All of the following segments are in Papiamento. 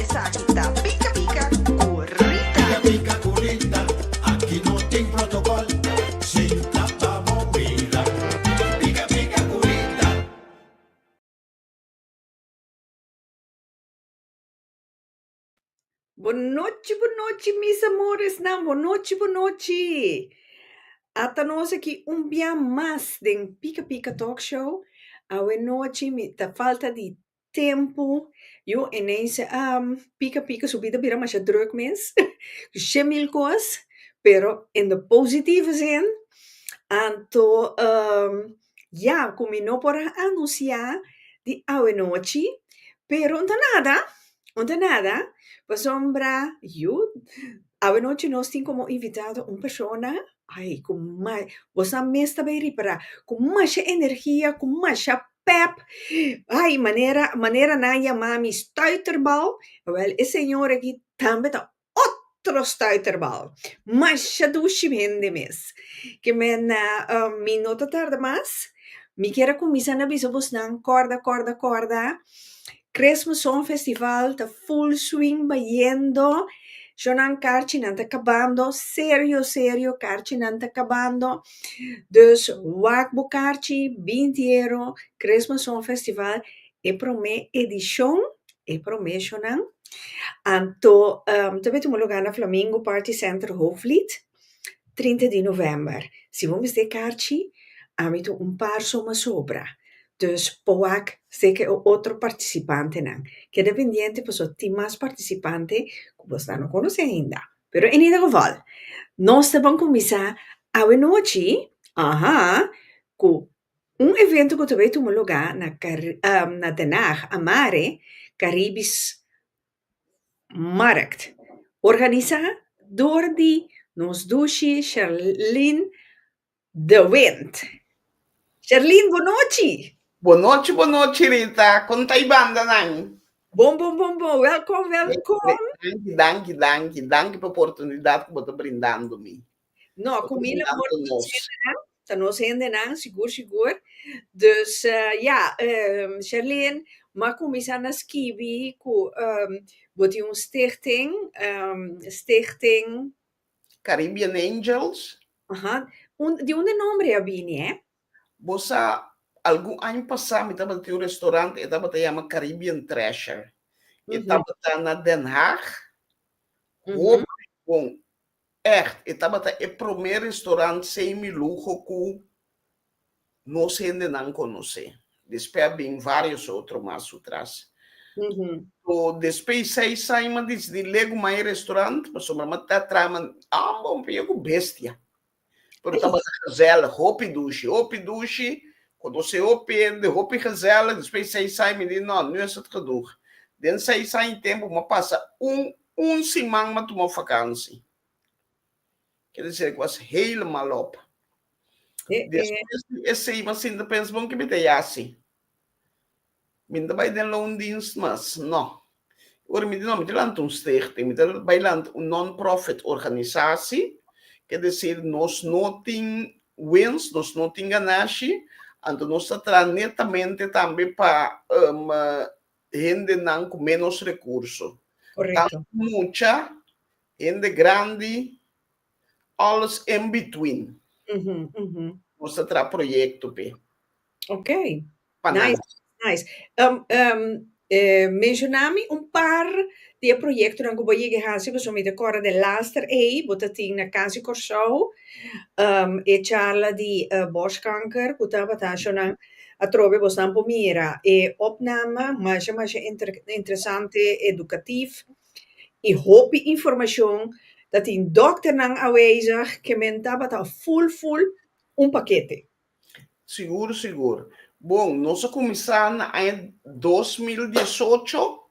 Esaki ta pika pika ku Rita. Pika pika ku Rita, aki no tin protokol, sinta pa bo mira. Pika pika ku Rita. Bo nochi bo nochi mis amoresnan bo nochi bo nochi ata nos aki un bia mas den pika pika talk show awe nochi mi ta falta di tempu, yu ineens a pika pika su bida bira masha drùk mes, shè mil kos, pero in de positive zin, anto ya ku mi no por a anunsiá di awenochi, pero no ta nada, no ta nada, pasobra yu awenochi nos tin komo invitado un persona, ai ku mai, bosa mes ta bai ripará, ku masha energia, ku masha pèp, ai manera manera nan a yamá mi stùiterbal, wèl e señor aki tambe ta otro stùiterbal, masha dushi hende mes, kimenna mi no ta tarda mas, mi ker a kuminsá na bisa bosnan kòrda kòrda kòrda Christmas Song Festival ta full swing bayendo, shonan karchinan ta kabando, serio serio karchinan ta kabando, dus wak bo karchi, bin diero, Christmas Song Festival e prome edishon, e prome shonan, anto ta bin tumu luga na Flamingo Party Center Hoogvliet. Trinta di november, si bo mester karchi, ami tin un par suma sobra, dus por wak seke e otro partisipantenan. Keda pendiente pasobra tin mas partisipante ku bo astan no konosé ainda. Pero en ieder geval, nos ta ban kuminsá awe nochi, aha, ku un evento ku ta bay tuma lugá na Kari, na Den Haag, Amare, Karibis Markt, organisá dor di nos dushi Sherline de Wint. Sherline, bon nochi! Bon nochi, bon nochi Rita! Kon ta e bandanan? Bon, bon, bon, bon! Wèlkom, wèlkom! Danki, danki, danki, danki pa oportunidat ku bo ta brindando mi. No, ku mi lo por mencioná ta nos hendenan sigur sigur. Dus ya, Sherlyn, m'a kuminsá na skibi ku bo tin un stichting, Stichting. Caribbean Angels. Aha. Un, di unda nòmber a bini e? Bo sa, algun aña pasá mi tabata tin un restaurant, e tabata yama Caribbean Treasure. E tabata na Den Haag, hopi bon. Ègt, e tabata e promé restorant semi-luho ku nos hendenan konosé. Despè a bin vários otro mas sutras. Pero despè i seis aña m'a disidí legu ma e restorant, pasobra m'a ta trama amba un p'e ku bestia. Pero tabata gazèl, hopi dushi, hopi dushi, konosé hopi hende, hopi gazèl. Despè i seis aña m'a di, Nò, nu esat kadug. Den seis aña tempu m'a pasa un Un siman m'a tuma fakansi. Ke di ser ku was helemaal op. Despues di esei m'a sinta pensa, bon ke mi ta yasi? Mi no ta bai den loondienst mas. No. Ora mi di no, mi ta lanta un stichting, mi ta bai lanta un non-profit organisasi, ke desir nos no tin wens, nos no tin ganashi, anto nos ta traha netamente tambe pa hendenan ku ménos rekurso. Tantu mucha, hende grandi, alles in between nos ta traha proyekto p'e. Pa nan. Menshoná mi un par di e proyektonan ku bo a yega a hasi, pasobra mi ta kòrda den laster ei, bo ta tin na Kasi Kòrsou e charla di bòskanker ku tabata ashonan. Atrobe bos nan por mira e opname masha masha interesante, educatief y hopi informacion ta tin dokternan awezig ke men tabata full full un pakete. Sigur sigur. Bon, nos a kuminsá na aña dos mil diesocho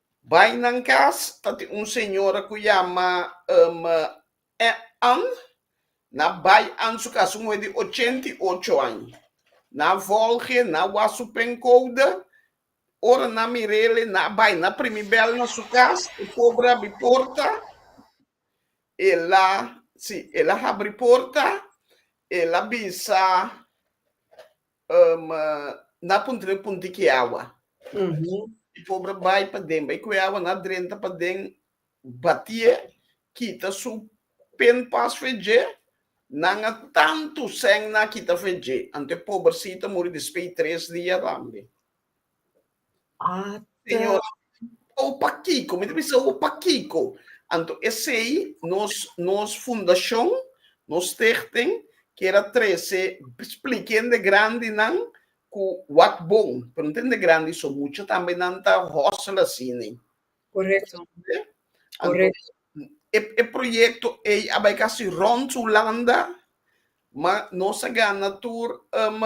Bai nan cas ta tin un señora cu yama um Ann, na Bai Ann su cas un muhe di ochenta y ocho añ. Na volge na Wasu Pencouda, ora nan mirele na bai na primi bel na su cas, e pobre abi porta, ela, si, ela habri porta, ela bisa, Nan puntra e punti ki e awa. E pobra bai paden, bai ku e awa nan drenta paden, bati'e, kita su pen pas fu e dje, nan a tantu sèn nan a kita fu e dje. Anto e pobersita muri despe di tres dia tambe. Ah, Señor, o pa Kiko, mi te bisa o pa Kiko. Anto esei nos, nos fundacion, nos stichting, kera trece splikende grandi nan ku wat bon. Pero no tende grandi so, mucha tambe nan ta hustle asini. Correcto. Correcto. E, e proyecto ei a bai kasi rond Hulanda, ma nos a gana tur um,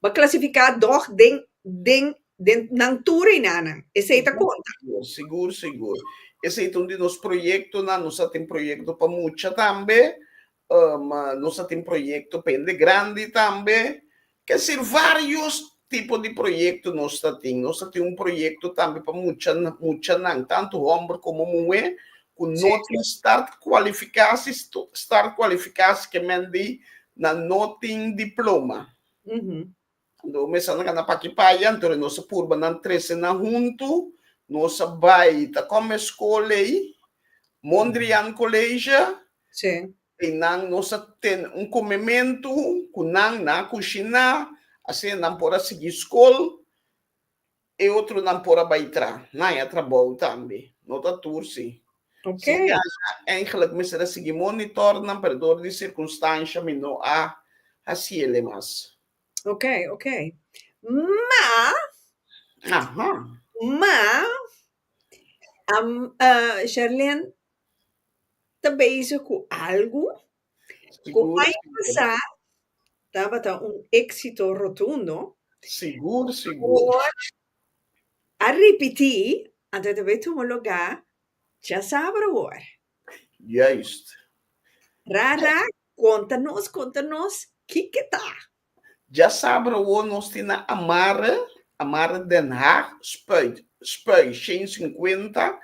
Bo a klasifiká dòg den den den nan tur reinanan. Esei ta konta. Sigur, sigur, sigur. Esei ta un di nos proyektonan. Nos a tin proyekto pa mucha tambe. Um, nos a tin proyekto pa hende grandi tambe. Kier varios tipo di proyekto nos ta tin. Nos ta tin un proyekto tambe pa mucha, muchanan, tantu hòmber komo muhé, ku no tin start kualifiká si start kualifiká si kemen di nan no tin diploma. Anto mester nan kana pa ki paya, anto e nos a purba nan trese nan huntu, nos a bai ta kòm e skol ei, Mondrian College, ei nan nos a tene un komementu ku nan, nan a kushiná, asina nan por a sigui skol, E otronan por a bai tra nan a trabou tambe. No ta tur si. Ok. Si nan a eindelijk mester a sigui monitor nan pero dor di circunstancia mi no a haciele mas. Ok, ok. Ma, Aha. ma, am, eh, Sherlyn ta bezig cu algo Kumai Masá tabata un éksito rotundo, por a ripití anto e ta bai tuma lugá dja sabru awor. Rara konta nos, konta nos kiko ta. Dja sabra awor nos tin na amarra, amarra Den Haag, Spui, Spui shen sinkuenta,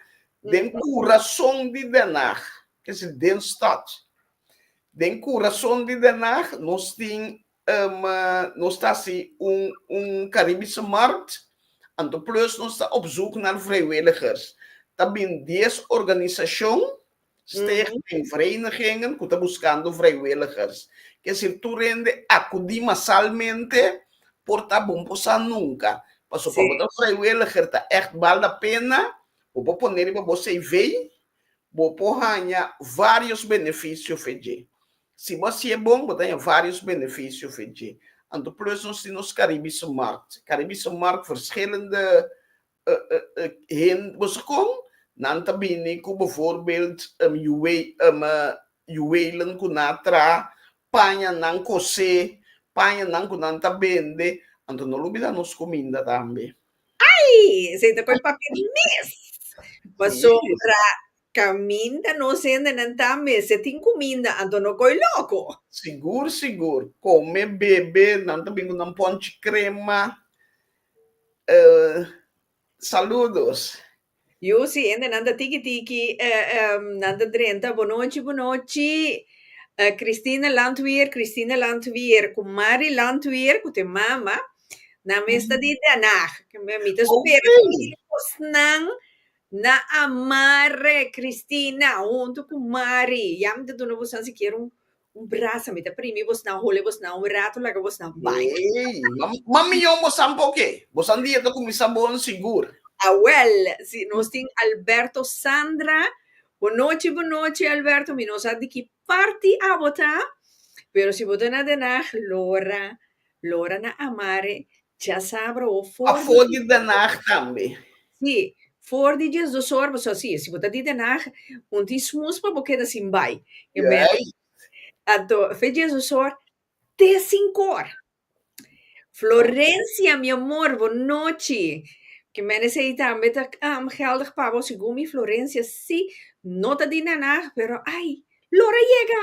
den kurason di Den Haag, kese den stad. Den kurason di Den Haag nos tin um nos ta hasi un un Karibische Markt, anto plus nos ta op zoek na vrijwilligers. Ta bin dies organisashon Stichting den verenigingen cu ta buscando vrijwilligers. Kier decir tur hende acudi masalmente por ta bon por sa nunca. Pasobra si bo ta vrijwilliger ta echt bal la pena, bo por pone riba bo cv, bo por haya varios beneficio fe dje. Si bo haci'e bon bo ta haya varios beneficio fe dje. Anto plus nos tin nos Caribisch Markt. Caribisch Markt verschillende hende boso kon nan ta bini ku bevoorbeeld yuweelen ku na tra paña nan kosé, paña nan ku nan ta bende, anto no lo bida nos kuminda tambe. Ai! Esei ta kos papia di mes. Pasobra kaminda nos hendenan tambe si e tin kuminda anto no koi loko. Sigur sigur, kome, bebe, nan ta bin ku nan ponchi krema Saludos. Yu si hende nan ta tiki tiki nan ta drenta bo nochi bo nochi Christine Landweer Christine Landweer ku Mari Landweer ku te mama nan mes ta di Den Haag mi ta spera ku mi yos nan na a mare Christina huntu ku Mari ya mi ta duna boso sikiera un Un brasa mi ta primi bosnan, hole bosnan un rato laga bosnan bai. Ey, ma, ma miyon bosan poke? Bosan dia ta kuminsá bon sigur. Awèl, si nos tin Alberto Sandra. Bonochi, bonochi Alberto, mi no sa di ki parti abo ta, pero si bo ta na Den Haag, Lora, Lora na amare cha sabro o for. A for di Den Haag tambe. Sí, for di dies dos ora paso así, si bo ta di Den Haag un tin smoes pa bo keda sin bai. Yo mester ato fe dies dos ora te cinco ora. Florencia mi amor bo nochi ke mester say tambe ta geldig pa bo segun mi Florencia sí no ta di Den Haag pero ay lora yega.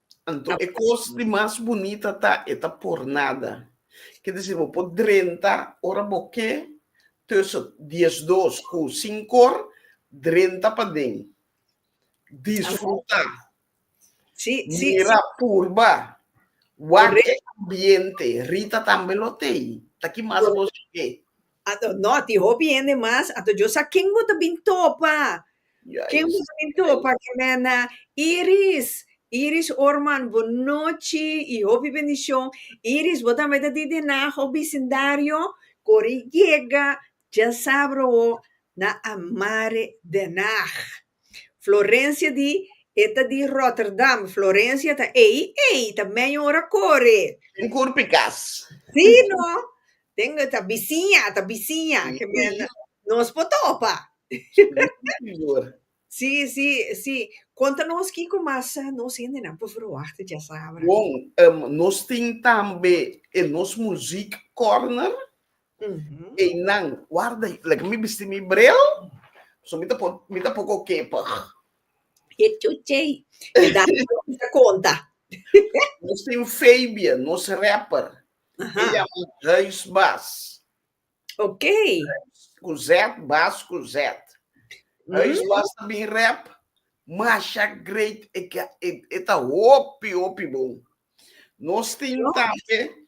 Anto e kos di mas bunita ta e ta por nada. Ke disi bo por drenta ora bo ke tussen dies dos ku sinkor drenta paden. Disfruta, mira, purba, wak e ambiente. Rita tambe lo tei. Ta ki mas bo escoge? Ato, no, tin hopi hende mas. Ato, yo sa ken bo ta bin topa. Ken bo ta bin topa, Kimena, Iris, Iris Orman, bo nochi i hopi bendishon. Iris, bo tambe ta di den Naho bisindario? Kore yega, dja sabra bo, na Amare, Den Haag. Florencia di E ta di Rotterdam Florencia ta Ei ei ta meño ora kore Un kurpi kas Si no Den e ta bisiña ta bisiña ke mèn nos por topa Si si si Konta nos kiko mas nos hendenan por verwachta djasabra Bon nos tin tambe e nos muziek kòrner Einan, warda i like mi bisti mi bril, so mi ta por, mi ta poko kepig. E chuchey, e da ta konta. Nos tin Fabia, nos rapper. Aha. E yama Huis Bas. Ok. Ku Z, Bas ku Z. Huis Mm. Bas ta bin rap. Masha great, e, ka- e, e ta hopi, hopi bon. Nos tin Yo. tambe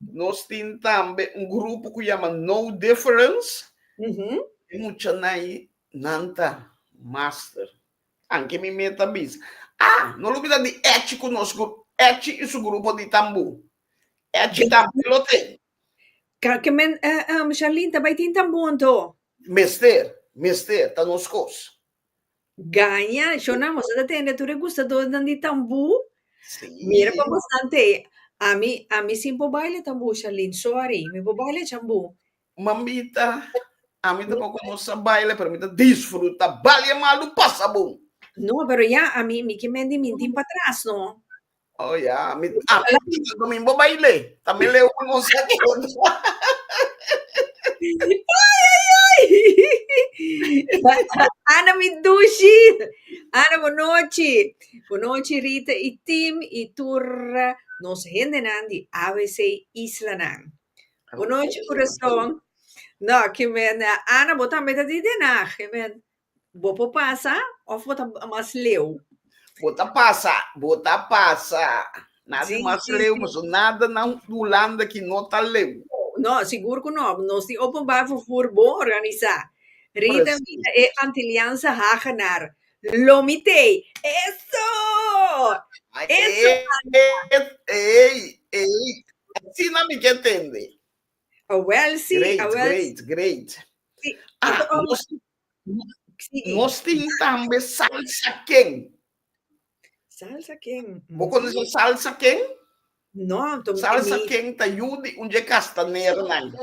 Nos tin tambe un grupo cu yama No Difference. Mm -hmm. E mucha nai, nan ta master. Anke mi me ta bisa. Ah, no lo bida di Echi cu nos grupo. Echi y su grupo di tambu. Echi tambe lo ten. Ka, ke men, uh, um, Charlene, ta bay tin tambu anto? Mester, mester, ta nos cos. Gaña, Shona, boso ta tende tur e gustadoresnan di tambú? Sí. Mira pa bastante. Ami, ami sí por baila tambú, Sharlene. Sorry, mi por baila chambú. Mambita, ami tampoco no sa baila, pero mi ta disfruta. Balia malu pasa bon. No, pero ya, ami, mi ke mende mintin patras, no. Oh ya, yeah. mi ah, domingo baile. También le un un segundo. Ana mi dushi. Ana bonochi. Bonochi Rita y team y tur nos hende nan di ABC Isla nan. Bonochi corazón. No, que men Ana botan beta di denag. Que men Bo por pasa of bo ta mas leu? Bo ta pasa, bo ta pasa. Nan di mas leu paso nada na Hulanda ki no ta leu. No, sigur ku no. Nos di openbaar vervoer bon organisá. Rita mira e Antiliaanse Hagenaar. Lo mitei, Eso! Eso anda! Ey, ey, asina mi ke tende. Awèl sí, awèl sí. Great, great, great. Nos di Nos tin tambe salsa ken. Salsa ken. Bo conoce salsa ken? No. Salsa ken ta yu di un dje castanera nan.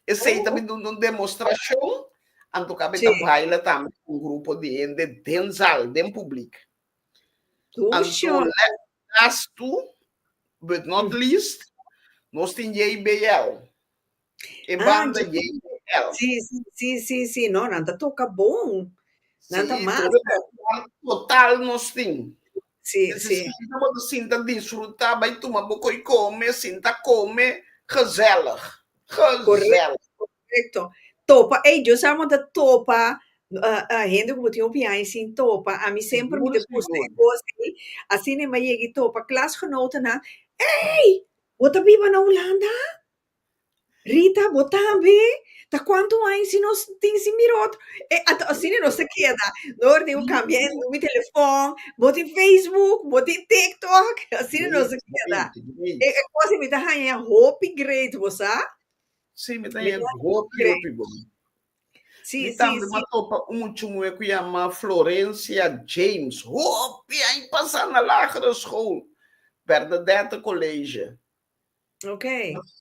Esey ta bin dun un demostracion, anto ka be ta baila tambe cu un grupo di hende den zal, den public. Anto las two but not least, nos tin JBL. E Ah, banda dje- JBL. Sí, sí, sí, sí, sí, no, nan ta toka bon. Nan ta Sí, masa. todo banda total nos tin. Sí, Te sí. sinta bo ta sinta disfruta, bai tuma bo koi come, sinta come, gezellig. Gezellig. Correcto. Topa, ey, yo sa mos ta topa ah, ah, hende cu bo tin hopi aña sin topa. Ami semper mi ta Sigur, busca e sigur. cos aki. Asina mi a yega y topa klasgenotennan. Ey, bo ta biba na Hulanda? Rita, bo tambe? Ta cuantu aña si nos tin sin mira otro? E ata asina nos ta keda. No orden bo cambia e numero di telefon, bo tin Facebook, bo tin TikTok, asina nos ta keda. E e cos mi ta haña ya hopi great, bo sa? Sí, mi ta haña ya hopi, hopi bon. Sí, Mi sí, tambe sí. m'a topa un muchungue cu yama Florencia James. Hopi aña pasa na lagere school, Bernadette College. Ok.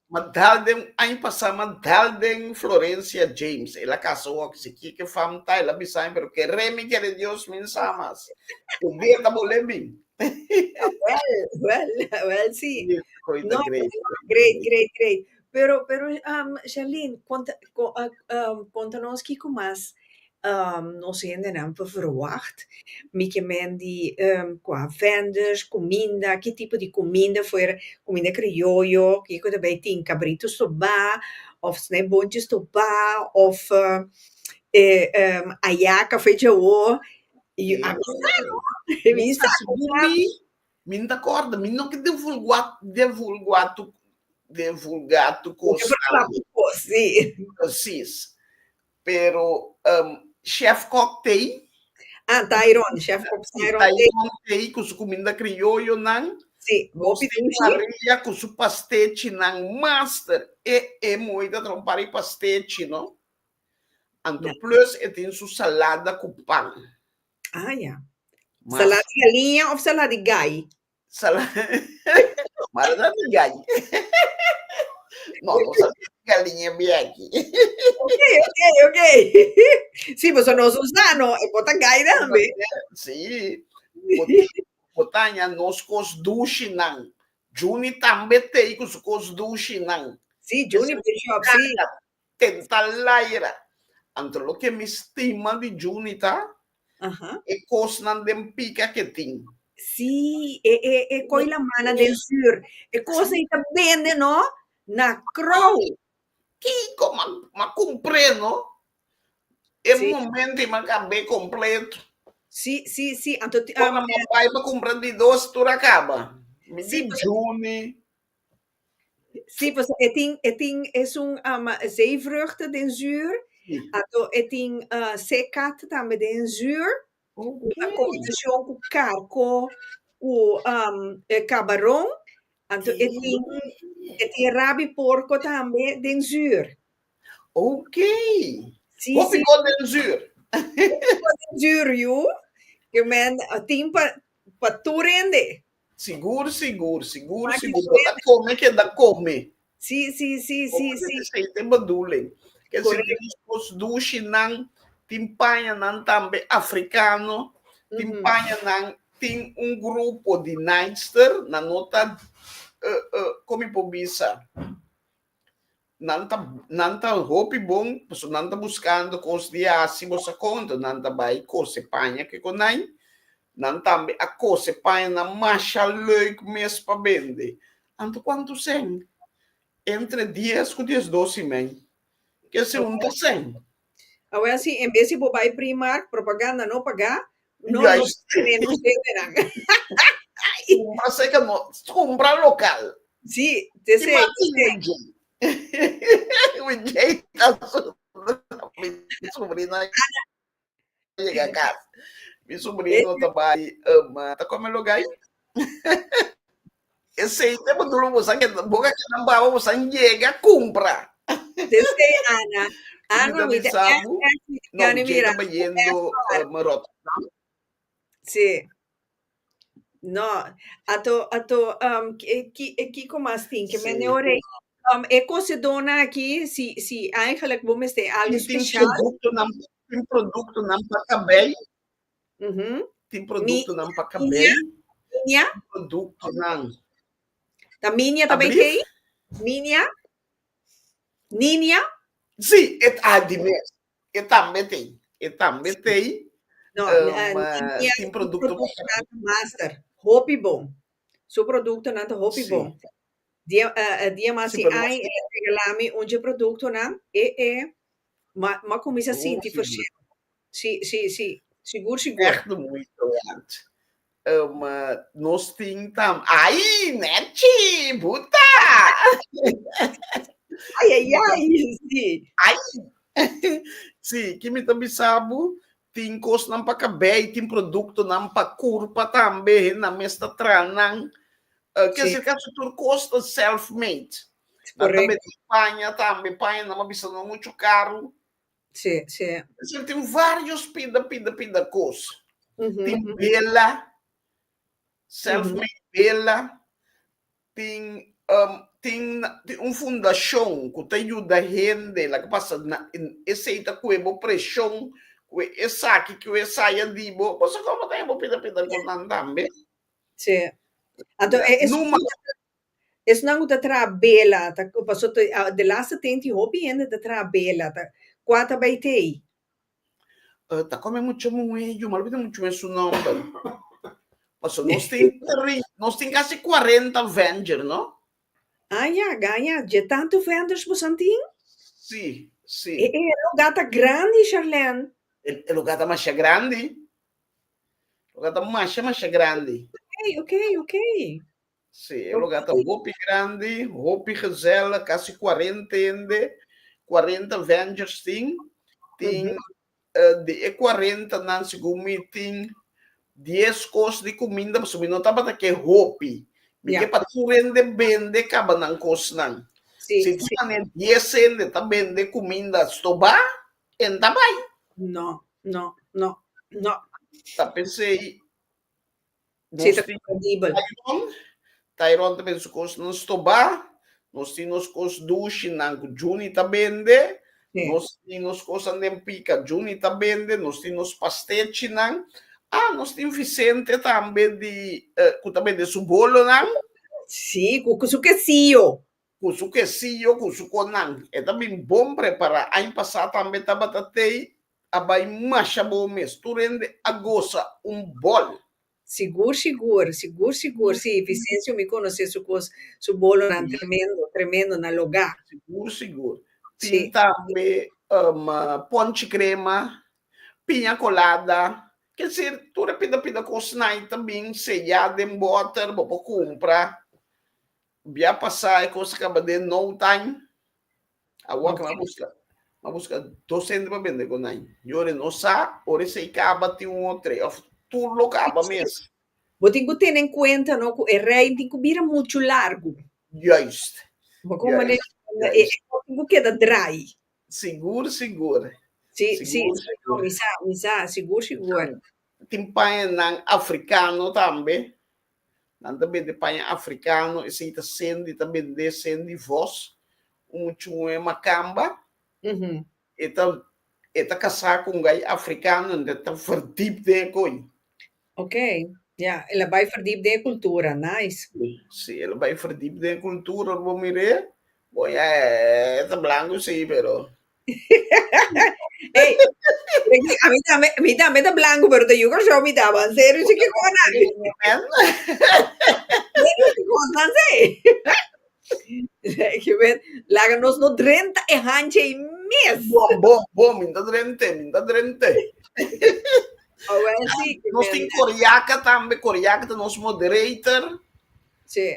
Ma dal den, aña pasá, ma dal den Florencia James, el a kasa wòk, si kie ke fam ta, el a bisa mi, pero keré mi kere Dios mi sa mas. Ku Dios ta bolé mi. Wèl, wèl, wèl si. Koe ta great, koe ta Great, great. great, great. Pero, pero, um, Sherlyn, konta, ko, uh, um, konta nos kiko mas Nos hendenan por verwagt mi ke mendi kua vendors, kuminda, ki tipo di kuminda fuer kuminda krioyo ke ku ta bai tin kabritu stobá òf snèbunchi stobá òf ayaka fuer djawo yu a bisa no a bisa mi no ta kòrda mi no ke divulgá divulgá tu divulgá tu kos si. Pero ehm chef kok tei? Ah Tairon, chef kok Tairon tei. Si Tairon tei ku su kuminda krioyo nan. Si, hopi tei shi. Nos tin parrilla ku su pastechi nan master. E e mooi ta traha un par di pastechi no. Anto plus e tin su salada ku pan. Ah ya. Salada di galiña of salada di gai? Sala Mara ta di gaji. No, no sa gal di ñe biaki. Ok, ok, ok. Sí, pues no su sano, e por ta gai tambe. Sí, porque por taña nos cos dushinan. Juni tambe tei cu su cos dushinan. Sí, Juni por shop, sí. tenta laira. Anto loke mi stima di Juni ta e kosnan den pika ke tin. Sí, e e e koi la mana den sur. E kos ei ta bende no na krou. Kiko m'a m'a kumpré no e momento ei m'a kab'é kompleto. Sí, sí, sí, anto ti Ora m'a bai pa kumpra di dos tur a kaba. Mi di Juni. Sí, pues e tin e tin es un um, zeevruchten den zuur. Sí. Ato e tin uh, seekat tambe den zuur. Okay. Na combinacion cu carco cu um, eh, cabaron. Ato e tin e tin rabi porco tambe den zuur. Ok. Sí, Hopi sí. cos den zuur. Hopi cos den zuur, you. Que men uh, tin pa, pa turende. Sigur, sigur, sigur, sigur. Bo ta come keda come. Sí, sí, sí, sí, sí. Con aceite bedoeling. Ken si tin esposo dushinan, tin pañanan tambe africano, tin pañanan, tin un grupo di naaister, nan no ta, eh, eh, con mi por bisa? Nan ta nan ta hopi bon paso nan ta buscando cos di haci bo sa conta nan ta bay cose paña ke conai nan tambe a cose paña na masha leuk mes pa bende anto cuanto seen entre dies cu diesdos y mei kese un ta seen Awel si en bes di bo bai Primark, propaganda no pagá, no Juist. los terrenos venderán. Kumpra seka no, kumpra lokal. Sí, te Di man tin sey. Wijay. Wijay ta sufri, mi subrina yega kas. Mi subrino ta bai, um, ta kome loga ayi? Esey te bo duro bo sa ke bo ka keda baba bo san yega kumpra. Esey Ana Ana Mita mi ta misabu SS mi ta no Jay ta mirando bayendo SR ma Rotterdam. si no ato ato um ki ki kiko mas tin ke men Sey orei bo. um e kosedona aki si si eigenlijk bo mester algo Tin tin special produktonan tin produktonan pa kabei. Tin produktonan pa kabel. Minia. Produktonan. Ta minia ta bay key? Minia? Ninia? Si, e ta di mes. E tambe tey. E tambe tey. No, ninia su produktonan ta master. Hopi bon. Su produktonan ta hopi bon. Dia mas di ay e a regala mi un dje produktonan. E e. Ma ma kuminsá sinti forseu. Si si si sigur sigur. Echt muito antes. Um, nos tin tam. Ai, Netchi, buta! Ai, ai, ai, si. Ai! si, ki mi ta bisabu, tin kosnan pa kabei, tin produktonan pa kurpa tambe, hennan mes ta tranan. Ke es el ke hasi tur kos ta self made. Nan ta mete e paña tambe, e paña nan a bisa no muchu karu. Es el tin varios pida pida pida kos. Tin bela, self made bela, tin tin un fundashon ku ta yuda hende laga pasa esei ta kue bo preshon ku esaki ku esaya di bo. Bo sa kòmo ta habo pida pida kos nan tambe? Sí. Anto e es Numa. esnan ku ta traha bela, ta ku paso te ah, de laatste tenti hopi hende ta traha bela, ta kua ta bai tei? Eh, ta kome mucha muhé, yu malo bita mucha muhé su nòmber. Paso nos tin tri, nos tin kasi kuarenta venger, no? Ah ya, gaya, je tanto vendors bosan tin? Si, si. E e lugar ta grandi, Charlène. E e lugar ta masha grandi. Lugar ta masha masha grandi. Oké, oké, oké. Sí, e lugar ta hopi grandi, hopi gezellig, kasi cuarenta hende, cuarenta vengers tin. Tin eh, di e cuarentanan, segun mi, tin dies cos di cuminda, pasobra mi no tabata ke hopi. Mi Ya. ke pa tur hende bende caba nan cosnan. Sí, Si tin sí. manera dies hende ta bende cuminda stobá, en ta bai. No, no, no, no. Ta pensei, nos tin Tairon, Tairon ta bende su cosnan stobá, nos tin nos cos dushinan cu Juni ta bende, nos tin nos cosnan den pica, Juni ta bende, nos tin nos pastechinan, ah, nos tin Vicente tambe di, cu ta bende su bolonan. Sí, cu su quesillo. Cu su quesillo, cu su conan. E ta bin bon prepara. Aña pasa tambe tabata tey a bay masha bon mes. Tur hende a goza un bol. Sigur sigur, sigur sigur si Vicencio mi conoce su cos, su bolonan tremendo, tremendo na loga. Sigur sigur. Tin tambe ponche crema, piña colada. Kier tur e pida pida cos na aña ta bin seya den boter bo por cumpra. Bia pasá e kos a kaba den no taim. Awa ke m'a buska, m'a buska dos hende pa bende kon nan. Yori e no sa, ora esei kaba tin un o tres, òf tur lo kaba mes. Bo tin ku tene en kuenta no ku e rein tin ku bira muchu largu. Juist. Bo kon manera e e kos tin ku keda drai. Sigur sigur. Si, si, no, mi sa, mi sa, sigur sigur. Tin paña nan afrikano tambe Nan ta bende paña africano, esei ta sendi ta bende sendi vos un muchungo e macamba e ta e ta casa cu un gai africano enta e ta verdip den e coy. Ok, ya, el a bai verdip den e cultura, nice. Si, el a bai verdip den e cultura lo bo mire, Bo ya eh, ta blanco sí, pero... Ey, Frankie, a mí también, a mí también está blanco, pero te yuca show mi taba. En serio, sí que cosa. Serio que cosa, sí. Je vet, laga nos no drenta e hanche y mes. Bom, bom, bom, minta drente, minta drente. Ahora sí. Nos tin coriaca también, coriaca te nos moderator. Sí.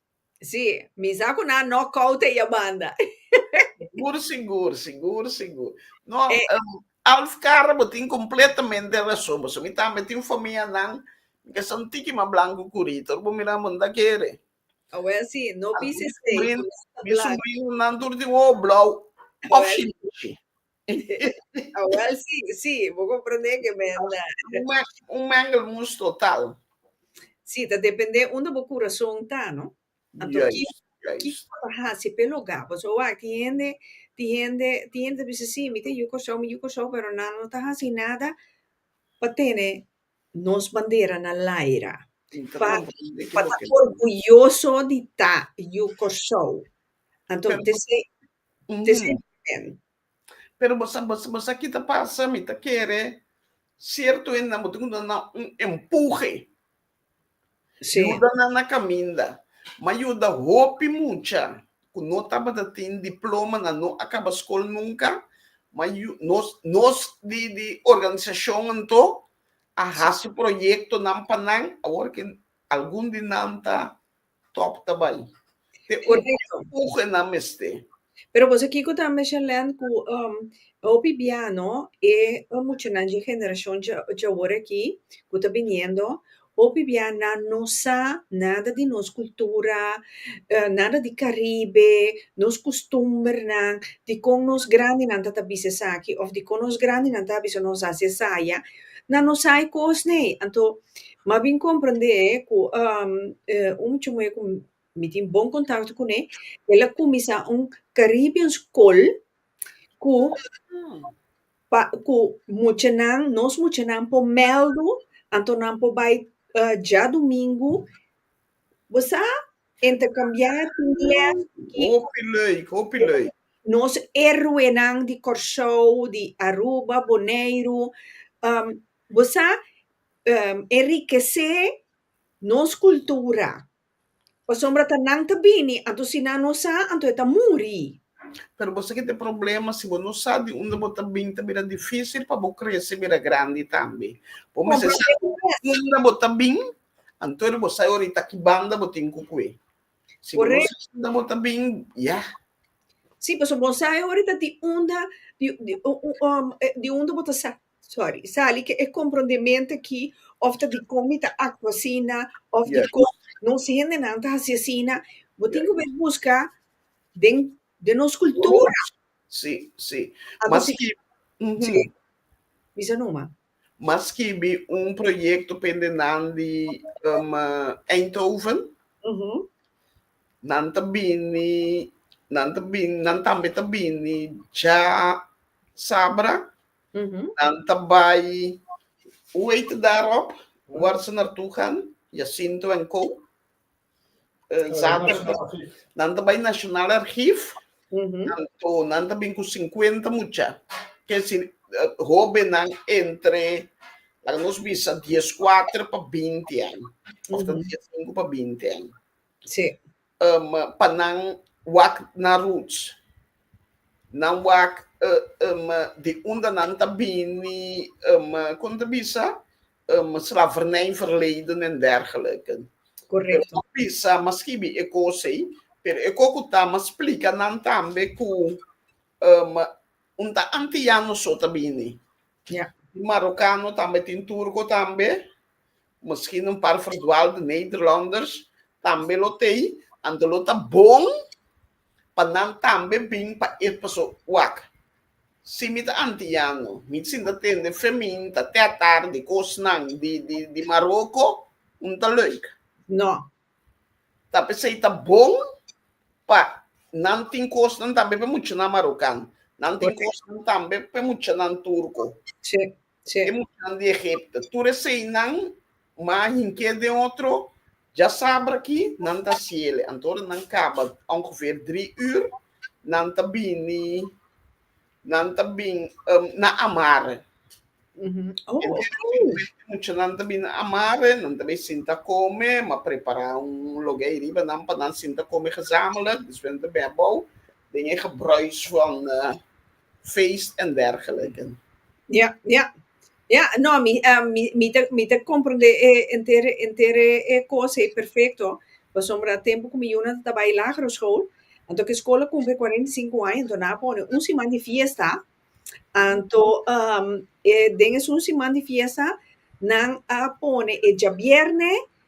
Sí, mi sa cu nan no coute e banda. Sigur, sigur, sigur, sigur. No, E- em, Alf Carra, bo tin completamente razón. Pasobra mi tambe tin famianan, mi ta sa un tiki mas blanco cu Rita. Ora bo miran, bo no ta kere. Awel sí, no Algun bises mi tei, sobrino, mi sobrinonan tur tin ojo blauw of Oel. shishi. Awel si, si, bo komprondé ke benda. Un mengelmoes total. Si, ta dependé unda bo kurason ta, no? Anto ki, ki bo ta hasi p'e lugá? Pasobra wak, tin hende, tin hende, tin hende ta bisa si, mi ta yu Kòrsou, mi yu Kòrsou, pero nan no ta hasi nada pa tene nos bandera na laira, pa, pa ta orguyoso di ta yu Kòrsou. Anto, desei. Te sinti bien. Pero bo sa, bo sa, bo sa ki ta pasa? Mi ta kere sierto hendenan bo tin ku duna nan un empuje. Sí. Yuda nan na kaminda. M'a yuda hopi mucha ku no tabata tin diploma, nan no a kaba skol nunka. M'a yu, nos, nos di, di organisashon anto a hasi proyektonan pa nan awor ke algun di nan ta Top ta bai. Te un empuje nan mester. Pero boso kiko ta mesha Len ku um hopi bia no e muchanan dje generacion dje dje awor aki ku ta biniendo hopi bia nan no sa nada di nos cultura nada di Caribe nos custumbernan dikon nos grandinan ta ta bisa esaki of dikon nos grandinan ta bisa nos hasi esaya na no sa e kos n'ei. Anto, m'a bin komprendé ku un mucha muhé ku mi tin bon kontakto kuné, el a kuminsá un Caribbean Skol ku pa ku muchanan, nos muchanan por mèldu, anto nan por bai djadumingu. Bo sa Intercambiá tin lèf ki. Hopi leuk, hopi leuk. Nos héroenan di Kòrsou, di Aruba, Boneiru. Bo sa, enrikesé nos kultura. Pasobra ta nan ta bini, anto si nan no sa, anto e ta muri. Pero bo sa ki ta e problema, si bo no sa di unda bo ta bini, ta bira difísil pa bo krese bira grandi tambe. Bo mester sa di unda bo ta bin Antonio bo sai orit a ki banda bo tin ku kue. Si bo no sai unda bo ta bin, ya. Si, pasobra bo sai orit a di unda di unda bo ta sori, sali. Ke e komprondementu aki òf ta dikon mi ta aktua asina òf dikon nos hendenan ta hasi asina, bo tin ku bai buska den den nos kultura. Si, si. Maski, mhm. Bisa numa. m'a skibi un proyekto pende nan di um, Eindhoven. Mm-hmm. Nan ta bini, nan ta bini, nan tambe ta bini ja sabra. Mm-hmm. Nan ta bai, hoe heet daarop? Waar ze naartoe gaan? Jacinto en co. Nan ta bai National Archief, nan ta bin ku sinkuenta mucha, kesin hobennan entre laga nos bisa dies kuater pa binti aña, òf ta dies sinku pa binti aña, pa nan wak na roots, nan wak di unda nan ta bini, kon ta bisa? um slavernij verleden en dergelijke. Correcto. Pero bisa mas skibi e cos ey, pero e cos cu ta mas splica nan tambe cu um un ta antillano so ta bini. Ja. Tin Marocano tambe, tin Turco tambe, misschien un par verdwaalde Nederlanders tambe lo tey, anto lo ta bon. pa nan tambe bin pa e paso wak. Si mi ta antiano, mi sinta tende fe min ta tètar di kosnan di di di Maroko, un ta leuk. No. Ta p'esei ta bon pa nan tin kosnan tambe p'e muchanan Marokan. Nan tin kosnan tambe p'e muchanan Turko. Si. Sí. E muchanan di Egipto, tur eseinan, mas hink'é den otro, dja sabra ki nan ta siele. Anto ora nan kaba ongeveer dri ür, nan ta bini, nan ta bin, na amare. E muchanan ta bini amare, nan ta bai sinta kome, m'a prepará un logé ei riba nan pa nan sinta kome gezamenlijk, despues nan ta ben abou den e gebruis van. feest en dergelijke. Ja, ja. Ja, no, mi, em, mi, mi ta, mi ta comprende e enter, enter e e cos ei perfecto. Pasobra tempo cu mi yunan ta tabaya lagere school, anto cu e school a cumpri cuarenta y cinco aña, anto nan a pone un siman di fiesta. Anto, em, e den esun siman di fiesta nan a pone e djabierne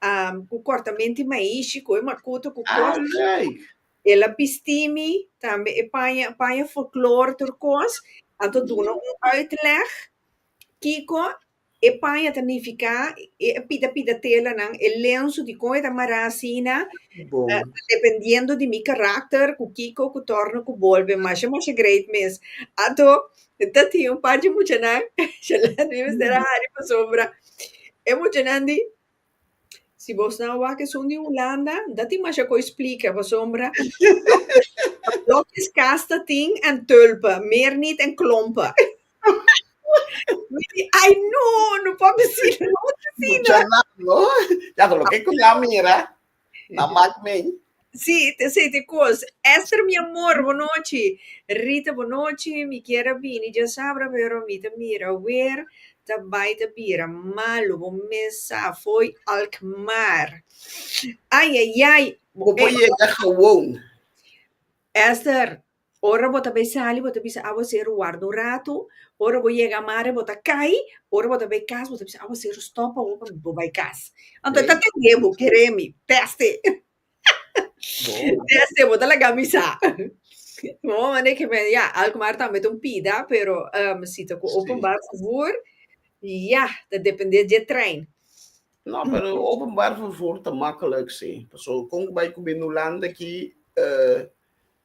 am ku kòrtamenti maishi ku e makuto ku kòrt Alai! el a bisti mi tambe e paña paña folklore tur kos a ta duna un uitleg kiko e paña ta nifiká e pida pida telanan e lensu dikon e ta mará asina Bo. dependiendo di mi karakter ku kiko ku tòrna ku bolbe masha masha great mes ato ta tin un par di muchanan Shalante mi mester a hari pa sombra e muchanan di si boso nan a wak esun di Hulanda no ta tin masha cu explica pasobra blokis cas ta tin en tulpen meer niet en klompen mi di ay no no por decir no no por decir muchanan lo loke cu nan a mira Na mak mei. Sí, te esei te kos. Esther, mi amor, bonochi. Rita, bonochi. Mi kier a bini dja sabra, pero mi ta mira wer ta bai ta bira malu. Bo mes sa fo'i Alkmaar. Ai, ai, ai. Bo por yega gewoon. Esther, Ora bo ta bay sali bo ta bisa aguacero warda un rato ora bo yega mare bo ta cay ora bo ta bay cas bo ta bisa aguacero stop awo pami bo bay cas anto e ta tende bo kere mi teste teste bo ta lagami sa bo manda e keme ya alkmar tambe ta un pida pero si ta cu open bar fufur ya ta depende dje trein. No pero open bar fufur ta makelijk si paso con cu bay cu bini Hulanda aki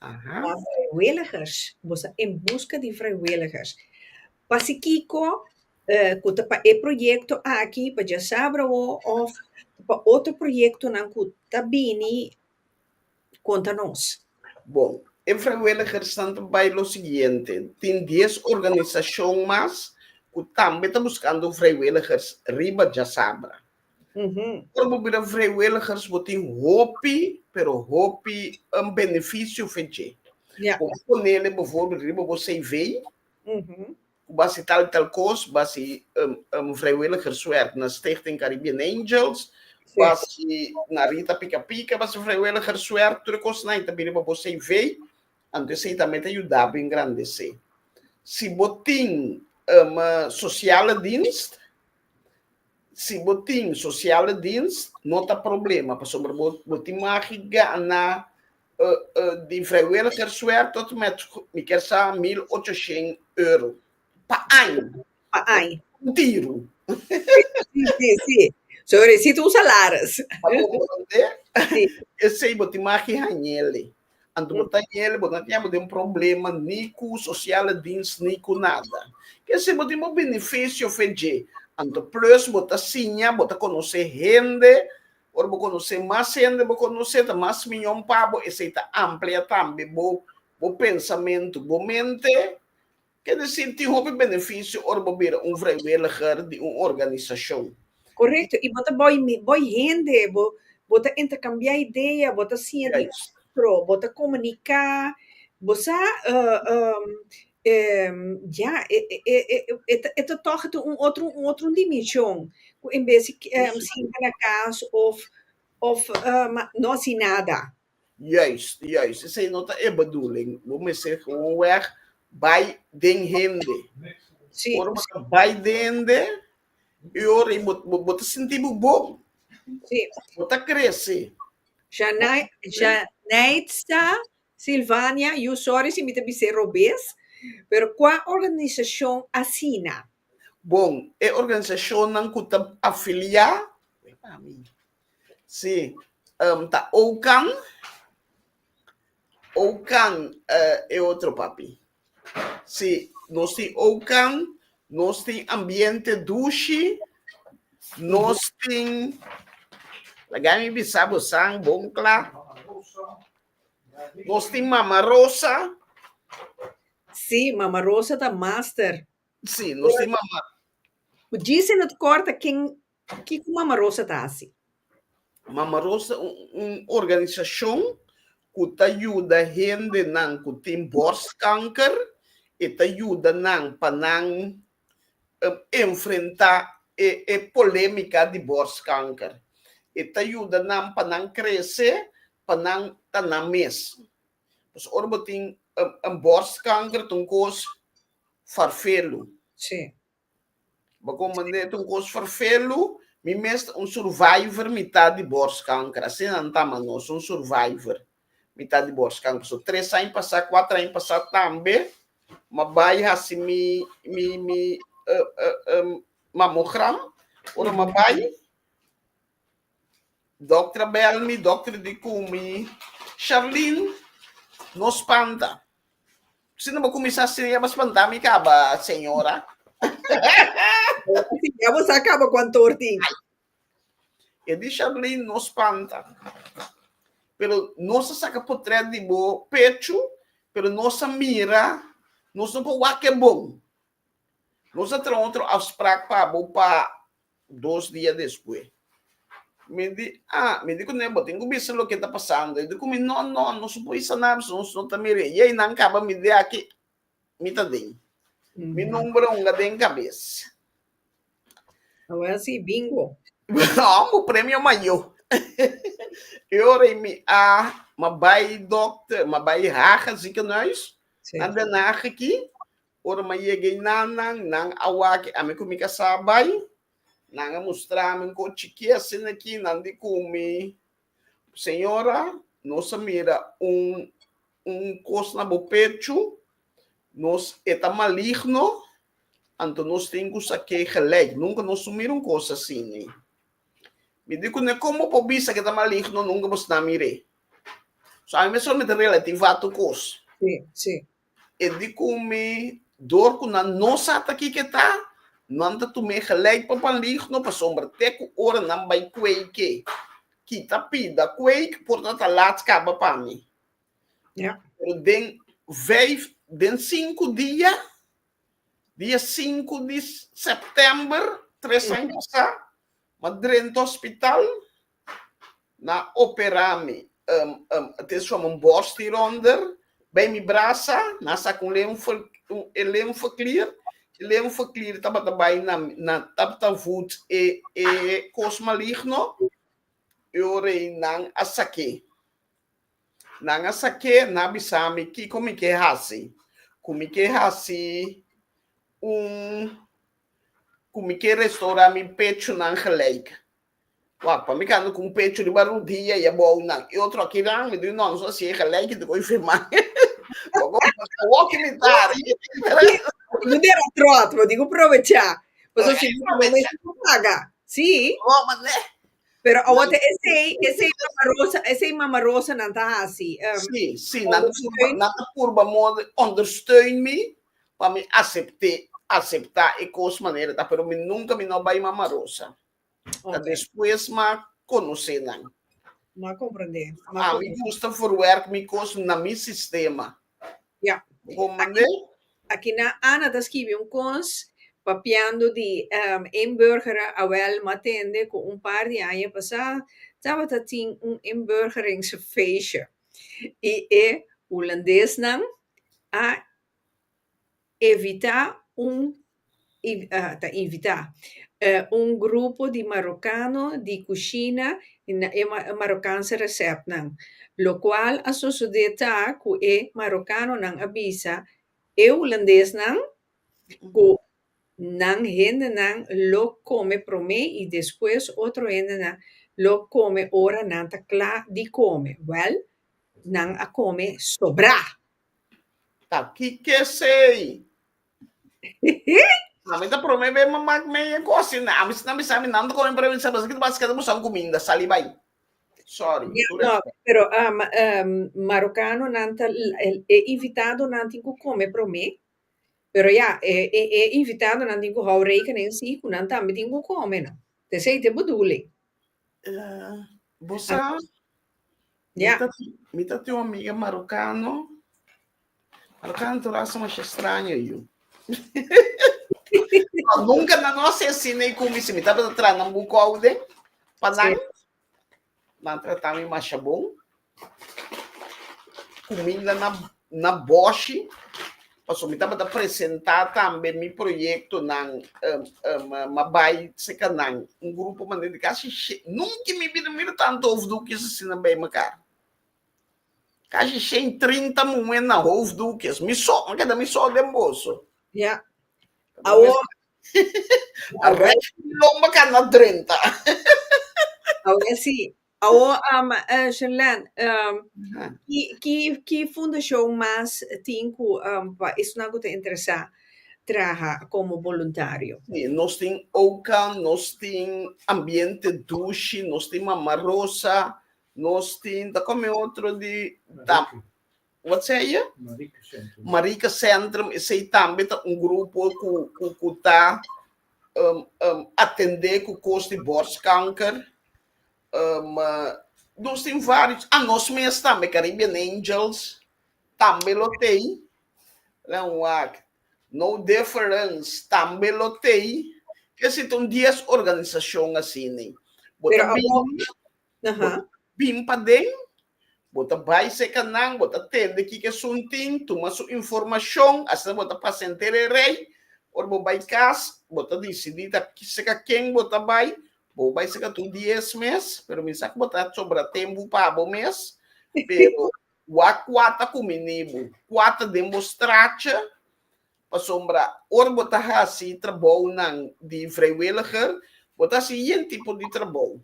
Aha. Pa vrijwilligers, bo sa en buska di vrijwilligers. Pa si kiko, eh, ku ta pa e proyekto aki, pa Djasabra awo, òf pa otro proyektonan ku ta bini, konta nos. Bon, e vrijwilligersnan ta bai lo siguiente, tin dies organisashon mas ku tambe ta buskando vrijwilligers riba Djasabra. Ora bo bira vrijwilligers, bo tin hopi, pero hopi un beneficio for dje. Yeah. Bo a ponele bijvoorbeeld riba bo cv, ku bo a hasi tal y tal kos, bo a hasi un, un vrijwilligerswerk na Stichting Caribbean Angels, bo a hasi na Rita Pika Pika, bo a hasi vrijwilligerswerk, tur e kosnan ei ta bin riba bo cv, antes ei tambe ta yuda bo engrandesé. Si bo tin un sosiale dienst, Si bo tin sosiale dienst, no ta problema pasobra bo tin magi gana di vrijwilligerswerk tot en met, mi kier sa, mil ochoshen euro pa aña, pa un tiro. Si, si, so resita un salaris. Esei bo tin magi hañel. Anto bo ta yel, bo no tin abo den problema ni ku sosiale dins ni ku nada. Ke si bo tin bo benefisio fe dje. Anto plus bo ta siña, bo ta konosé hende, ora bo konosé mas hende, bo konosé ta mas mion pa bo, esei ta amplia tambe bo bo pensamentu, bo mente. Ke desi, tin hopi benefisio ora bo bira un vrijwilliger di un organisashon. Korekto, i bo ta bòi mi, bòi hende, bo bo ta interkambiá idea, bo ta siña di otro, bo ta komuniká, bo sa, ya, e e e e ta e ta tòg ta un otro un otro dimenshon ku en bes siña na kas òf òf no hasi nada. Juis, juis. Esei no ta e bedoeling. Bo mester gewoonweg bai den hende. Sí. Ora bo ta bai den hende, e ora ei bo, bo, bo ta sinti bo bon. Sí. Bo ta krese. Janai, Janeitza, Silvania, yu sòri si mi ta bis'é robes, pero kua organisashon asina? Bon, e organisashonnan ku ta afiliá, wei pa mi, Si um ta oukan oukan uh e otro papi si nos tin oukan nos tin ambiente dushi nos tin laga mi bisa bo san bon cla nos tin mama rosa si mama rosa ta master si nos tin mama. Gise no ta corta ken Kiko Mama Rosa ta hasi? Mama Rosa ta un organisashon ku ta yuda hendenan ku tin bòrskanker. E ta yuda nan pa nan enfrentá e polémika di bòrskanker. E ta yuda nan pa nan krese, pa nan ta nan mes. Pasobra ora bo tin bòrskanker ta un kos farfelu. Sí. Bako manera ta un kos ferfelu, mi mes ta un survivor, mi ta di borskanker, asina nan ta mas nos, un survivor, mi ta di borskanker. So tres aña pasá, kuater aña pasá tambe mi a bai hasi mi mi mi mamogram, ora mi a bai. Dokter bel mi, dokter di ku mi, Sherlyn, no spanta. Si no bo kuminsá siria, bo spantá mi kaba, señora. Ya bo sa kaba kuantor tin. E di Sherlyn, no spanta. Pero nos a saka potrèt di bo pechu, pero nos a mira, nos no por wak e bon. Nos a traha otro afsprak pa bo pa Dos dia despues mi di ah mi di cu nebo tin cu bisa loke ta pasando y di cu mi no no no su puy sana bisa nos no ta mere yey nan caba mi di aki mi ta den mi nomber a hunga den cabes. Lo voy a si bingo. Amo premio mayo y ora y mi ah ma bay doctor ma bay haga ziekenhuis nan den haga aki Ora m'a yega einan, nan, nan a wak ami ku mi ka sa bai. Nan a mustra mi un kos chikí asina aki, nan di ku mi, Señora, nos a mira un un kos na bo pechu, nos e ta maligno, anto nos tin ku sa ke gelijk. Nunka nos no mira un kos asina. Mi di ku ne, kon bo por bisa ku e ta maligno? Nunka bo sna mir'é. So ami mester solamente relativá tur kos. Sí, sí. E di kun mi, Dor ku nan no sa ta kiko e ta, nan ta tum'é gelijk pa panligno, pasobra te ku ora nan bai kueik'é, kita pida kueik por ta ta lat kaba pa mi. Ja. Pero den vijf, den sinku dia, dia sinku di sèptèmber tres aña pasá, m'adrenta hospital, na opera mi te som un bos di ronder bay mi brasa na saca un lenfo e lenfo clear e lenfo clear tabata bay na na tabata voet e e cos maligno e ora y nan a sake nan a sake nan a bisa mi kico mi ke haci cu mi ke haci un cu mi ke restaura mi pechunan gelijk. Wak, pa mi kando ku un pechu riba rudia i a bou nan i otro a kira, mi dui nònso a siega lèki ta koi firmá. Wòk i mi tari. No dera tròt, bo tin ku provechá. Pasobra si no ta bo por paga. Sí. Wòk ma neh. Pero awor ta esei, esei Mama Rosa, esei Mama Rosa nan ta hasi. Sí, sí, nan ta purba, nan ta purba modo di ondersteun mi pa mi asept'é, aseptá e kos manera ta, pero mi nunka mi no bai Mama Rosa. Ta despues m'a conoce nan. M'a comprende. M'a A mi comprende. gusta verwerk mi cos na mi sistema. Ja. Bon manera. Aki na Ana ta skibi un cons papiando di ehm inburgera awel m'a tende cu un par di aña pasá tabata tin un inburgeringsfeestje y e Hulandes nan a Evitá un ta invitá un grupo di marokano di kushina na e marokanse resèpnan. Lokual a sosodé ta ku e marokanonan a bisa e hulandesnan ku nan hendenan lo kome promé i despues otro hendenan lo kome ora nan ta kla di kome. Wèl, nan a kome sobrá! Ta kike sei. Ami ta prome be me mak me e kosi. Na, ami sna bisa mi nan ta kome pero mi sa basa ki ta basketa busan kuminda. Sali bai. Sorry. Ya, Tur no, respect. pero ah, ma- em, marokanonan ta l- el- e invitadonan tin ku kome promé. Pero ya, e e e invitadonan tin ku hou rekenen si ku nan tambe tin ku kome, no. Te sei te budule. Uh, bo sa, ah. yeah. mi, ta, mi ta tio amiga marocano. Marocano tu raso mas extraño yo. no, nunca na no se sina e kumi si mi ta tra na buko aude. Panan. Sí. Na trata mi mas bom. cuminda na na boshi pasobra mi tabata presenta tambe mi proyectonan ma bay seca nan un grupo manera di casi shen nunca in mi bida mi mira tanto hoofddoekjes asina bay mekar casi shen trinta muhe na hoofddoekjes mi so a keda mi so den boso ya awor a resh di lomba cana drenta awor si Awor Sherlene ki fundashon mas tin ku pa esunnan ku ta interesá traha komo boluntario? Si, nos tin Oka, nos tin Ambiente Dushi, nos tin Mama Rosa, nos tin ta kome otro di ta. Word say je? Marica Centrum. Marica Centrum, esey tambe ta un grupo cu, cu, cu ta um, um, atende cu cos di borstkanker. Um, uh, nos tin varios, a nos mes tambe, Caribbean Angels, tambe lo tey. Let me walk. No difference, tambe lo tey. Que si ton diez organizacion así, ni. Pero Bota a bini, Aha. Bin paden, bo ta bai seka nan, bo ta tende kiko esun tin, tuma su informashon, asina bo ta pasa henter e rei. Ora bo bai kas, bo ta disidí ta seka ken bo ta bai, bo bai seka tur dies mes, pero mi sa ku bo ta sobra tempu pa abo mes, pero wak kua ta kumi nibu, kua ta den bo stracha, pasobra ora bo ta hasi trabounan di vrijwilliger, bo ta hasi yen tipo di trabou.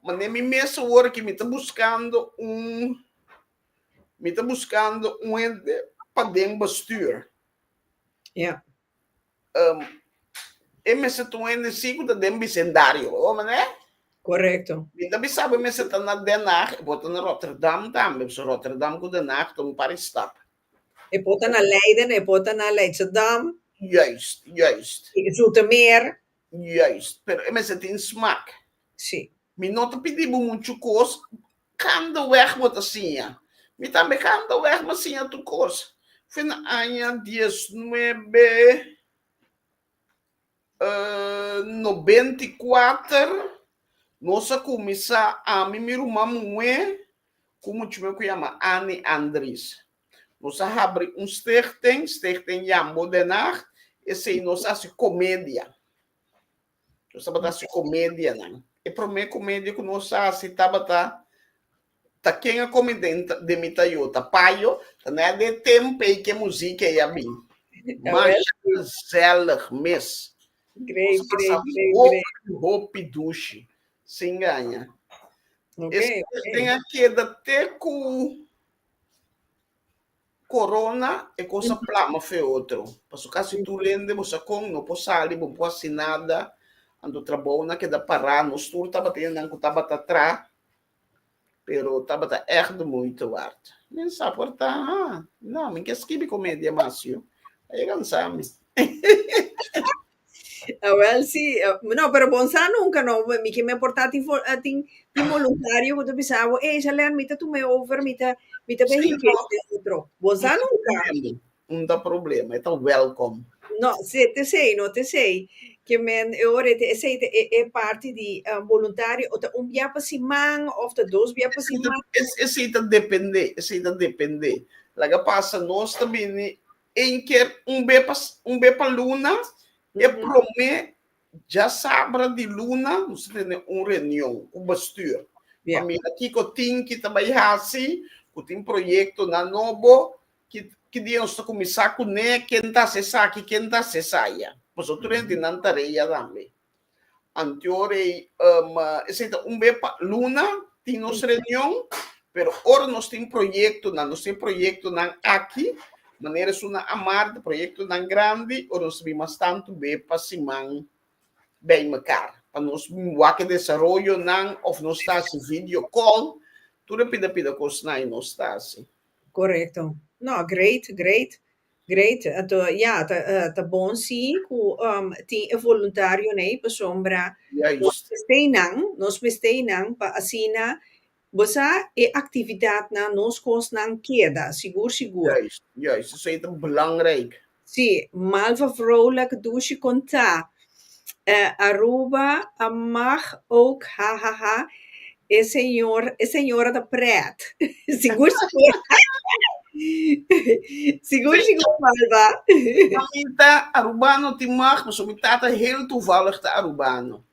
Ma ne mi mes awor aki mi ta buskando un mi ta buskando un hende paden bastuur. Ya. E mester ta un hende si ku ta den bisendario, bo hoor me ne? Korekto. Mi ta bisa bo e mester ta na Den Haag, e por ta na Rotterdam tambe, pasobra Rotterdam ku Den Haag ta un par e stap. E por ta na Leiden, e por ta na Leidschendam. Juist, juist. Zoetermeer. Juist, pero e mester tin smak. Sí. Mi no ta pidi bo muchu kos, kanda wèg bo ta siña. Mi tambe kanda wèg mi a siña tur kos. Fin na aña dies nuebe nobenta i kuater nos a kuminsá, ami, mi ruman muhé ku muchu mihó ku yama Annie Andries. Nos a habri un stichting, Stichting Jambo den Haag, esei nos a hasi komedia. Nos tabata hasi komedianan. E promé komedia ku nos a hasi tabata Ta ken a komi den den mi Toyota Payo? Ta na de tempei ke muzik ei a bin. Masha gezellig mes. Great, Nos a pasa great, great, great. hopi, hopi dushi. Sin gaña. E Ok, ok. stichting a keda te ku Corona e cosa plama fe otro. Paso casi tu lende bo sa con no por sali, bo no por haci nada. Anto trabou nan keda para. Nos tur tabata e nan cu tabata tra. Pero tabata echt de moeite waard. Men sa por ta, ha, na, men ke skibi comedia mas, yo. A yega ansa mi. Awel si, no, pero bon sa nunca no, mi kier me porta tin tin voluntario cu ta bisa abo, ey Shalene mi ta tuma e over, mi ta mi ta bay hinca esta y otro, bon sa nunca. Un ta problema, e ta welcome. No, si ta esey no, ta esey, kier men e ora e esey ta e e parti di voluntario o ta un bia pa siman of ta dos bia pa siman. Esey ta depende, esey ta depende, laga pasa nos ta bini Ein ker un be pa un be pa luna, e prome dja sabra di luna nos ta tene un reunion ku bestuur pa mira kiko tin ki ta bai hasi, ku tin proyektonan nobo, ki ki dia nos ta kuminsá kuné, ken ta hasi esaki, ken ta hasi esaya. Pasobra tur hentenan tarea tambe. Antior ei um, esei ta un be pa luna tin nos reunion, pero ora nos tin proyectonan, nos tin proyectonan aki, manera esuna a marda, proyectonan grandi, ora nos bin mas tantu be pa siman bij mekaar, pa nos bin wak desaroyonan of nos ta hasi video call, tur e pida pida kosnan ei nos ta hasi. Correcto. No, great, great. Great ato ya ta bon si cu tin e voluntario ne pasobra nos mester nan nos mester nan pa asina bo sa e actividad nan nos cos nan keda sigur sigur esey ta belangrijk. Si malva vrouwlak dushi konta eh Aruba a mag ook hahaha e señor e señora ta pret sigur sigur sigur sigur malba. Mamita Arubano tin mag pasobra mi tata heel toevallig ta Arubano.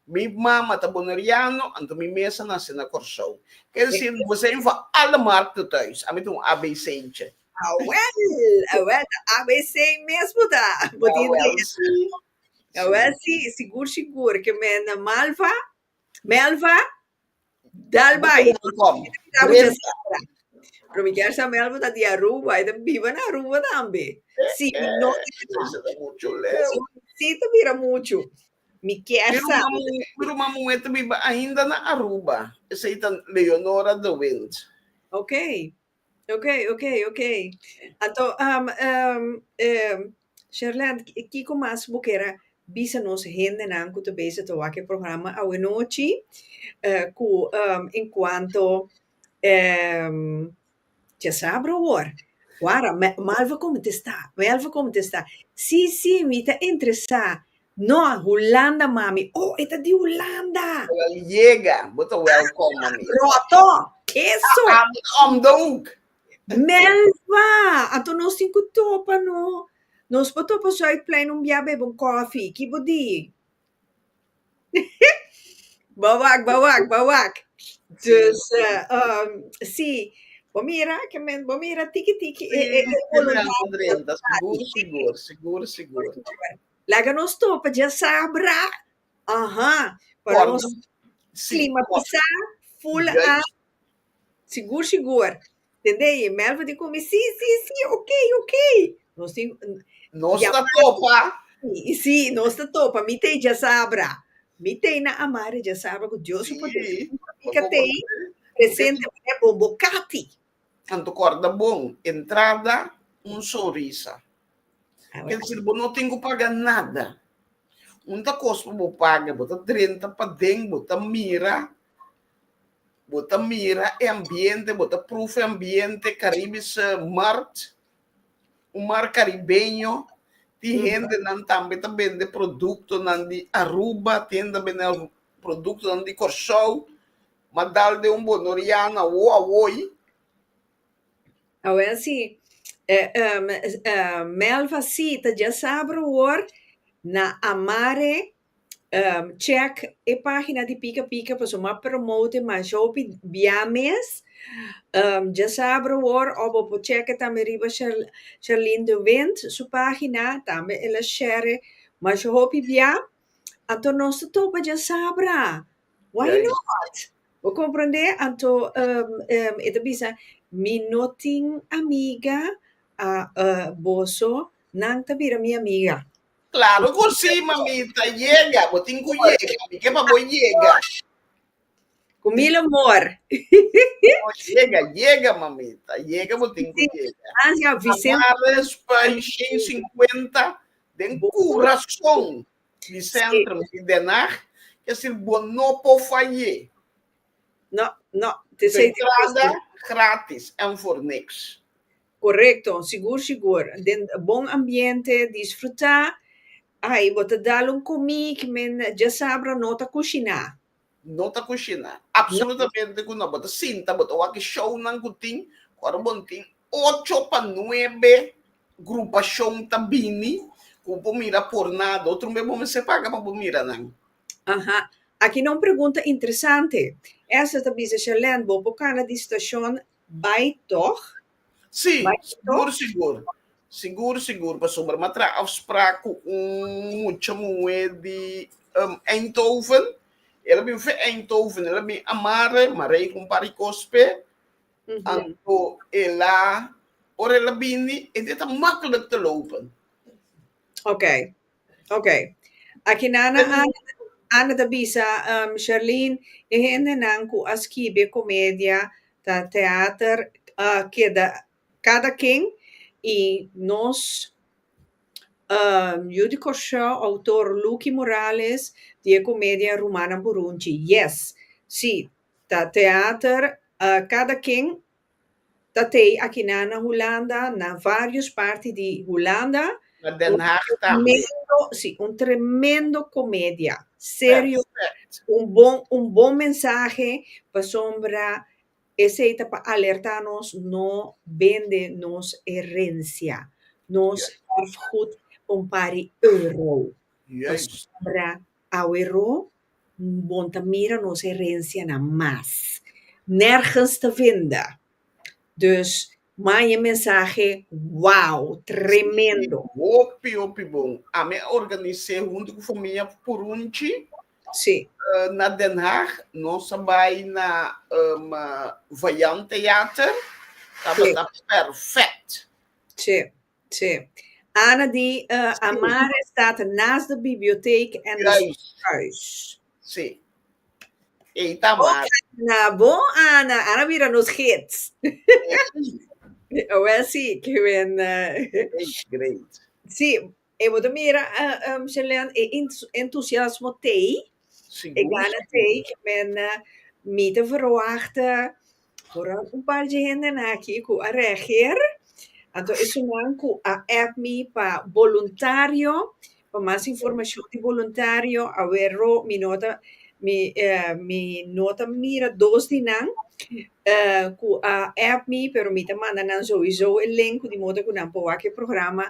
Mi mama ta Boneriano anto mi mes a nace na Corsou. Kier deci nos a yendo for alle markten tuis. Ami ta un ABC'tje. Awel, awel, ta ABC mesmo ta. Bo tin Awel, idea. sí. Awel, sí, sigur, sigur, ke men Malva, Melva, Dalba, i Kom, kom. Kita mucha Bresa. sabra. Pero mi kier sa Melva ta di Aruba, i ta biba na Aruba tambe. Sí, mi no idea. Eso ta mucho leu. Sí, ta bira mucho. Mi kier Mi sa. ruma muhe, mi ruma muhe ta biba ainda na Aruba. Esei ta Leonora de Wind. Ok. Ok, ok, ok. Anto, um, um, um, Sherland, ki- kiko mas bo kera bisa nos hendenan ku ta bese ta wak e programa awe nochi, eh, ku um, en kuanto um, cha sabra awor, wara, me- Melva kontestá, Melva kontestá, Sí, sí, mi ta interesá No, Hulanda, mami. Oh, e ta di Hulanda! Wel yega, bo ta wèlkòm, mami. Ròtò! Eso! Ami ta om douk! Melva! Anto nos tin ku topa no. Nos por topa Zuidplein un bia bebe un kòfi. Ki bo di? Bo wak, bo wak, bo wak. Dus, si, bo mira, bo mira tiki tiki e boluntat. Si, si, si, si, si, si. Sigur, sigur, sigur, sigur. Laga nos topa dje sa bra. Aha. Para Cuando- nos Sí, climatizá, full Juist. a sigur sigur. Tende? Y Melvin tin con mi, sí, sí, sí, ok, ok. Nos tin, Nos Ya, ta topa. y sí, nos ta topa. Mi t'ei dje sa bra. Mi t'ei na amari dje sa bra cu Dios su poder. Sí. Mi ka t'ei presente, bo cati. Anto corda bon, entrada un sonrisa. Kel Awe. ser bo no tin cu paga nada. Un ta cos pa bo paga, bo ta drenta paden, bo ta mira, bo ta mira e ambiente, bo ta proefa e ambiente, Caribische Markt, Un mar caribeño tin hende nan tambe ta bende producto nan di Aruba, tin hende ta bende producto nan di Corsou, ma dal den un bonoriana wo a woi. Awel si, Melva si ta dja sabro wor na amare Check e pagina di Pika Pika pasobra bo a promote mas hopi bia mes. Djesa abra awor of bo por check tambe riba Sherlyn de Wint su pagina, tambe el a share mas hopi bia. Anto nos ta topa djasabra, why not? Bo comprende? Anto e ta bisa, mi no tin amiga, boso nan ta bira mi amiga. Claro cu si, mamita, yega, bo tin cu yega, mi ke pa bo yega. Cu mil amor. Oh, yega, yega, mamita, yega, bo tin cu Sí. yega. Gracias, Amare Vicente. Spanjin 50 den curason di Centrum di Den Haag, ke sir bo no por fayé. No, no, te Su sei entrada difícil. gratis en for niks. Korekto, sigur sigur. Den bon ambiente, disfrutá. Ai, bo ta dal un komí ki men dja sabra no ta kushiná. No ta kushiná. Apsolutamente ku no. Bo ta sinta, bo ta wak shownan ku tin. Ora bon tin ocho pa nuebe grupashon ta bini ku por mira pornado, otro bes bo mester paga pa bo mira nan. Aha. Aki na un pregunta interesante. Esther ta bisa, Sharlène, bo por kana di stashon Bai tòg? Sí, sigur sigur. Sigur sigur, pasobra m'a traha afsprak ku un mucha muhé di Eindhoven. El a bin fen Eindhoven, el a bin a mare, m'a rega un par di kos p'e. Anto e la, ora el a bini, e di ta maklik ta lopen. Oké. Ok. Aki Nana Ana ta bisa, um, Sherlyn, e hendenan cu a skibi e comedia ta theater, uh, keda cada ken y nos, um, yu di Kòrsou, autor Lucky Morales di e comedia Rumannan Burunchi, yes, si, ta theater, uh, cada ken Ta tei akina na Hulanda, na vários parti di Hulanda. Na Den Haag tambe. Un tremendo, sí, un tremendo comedia. Serio. Perfect. Un bon, un bon mensahe, pasobra esei ta pa alertá nos no bende nos herencia, nos erfgoed pa un par di euro. Juist. Pasobra awe ro. Bon ta mira nos herencianan mas. Nergens te venda. Dus manda e mensahe, wow, tremendo. Si, hopi, hopi bon. Ami a organise huntu cu famia Purunchi. Si. Na Den Haag. Nos a bay na Vijand Theater. Tabata perfect. Si. Tje. Ana di uh, Amare staat naast de biblioteek en de Juist. schoolhuis. Sí. E ta Oh, mar. Ana, bon Ana. Ana bira nos gids. Wel sí, que ben... eh, Great, great. sí, e bote mira, uh, um, Shelleen, e ent- entusiasmo tei, e Sigur, gana sigur. tei, que men uh, mi te verwachten Ora un par di henden aki ku a reageer, anto esunnan ku a app mi pa boluntario, pa mas informashon di boluntario, awero mi no ta mi eh mi no ta mira dos di nan eh ku a app mi pero mi ta manda nan souiso e link di modo ku nan por wak e programa,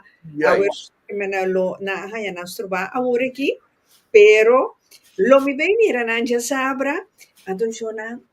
awero nan a lo nan a haña nan strobá awor aki, pero lo mi bei mira nan diasabra, anto mi shò nan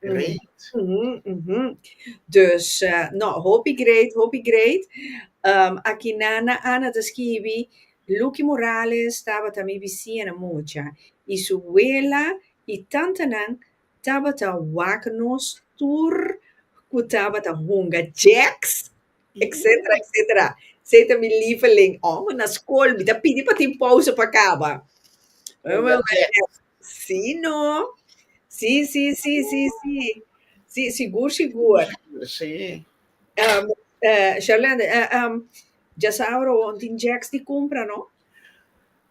Great. Mm -hmm, mm -hmm. Dus, uh, no, hopi great, hopi great. Um, aki Nana Ana ta skibi, Lucky Morales tabata mi bisiena mucha, i su wela i tantanan tabata wak nos tur ku tabata hunga. Jacks! etcetera, etcetera. Sei ta mi lieveling. Oh, ma na school mi ta pidi pa tin pausa pa caba. Oh, ma si no. Si, si, si, si, si. Si, sigur, sigur. Si. Um, uh, Sherlande, uh, um, djasabra, tin jacks di cumpra, no?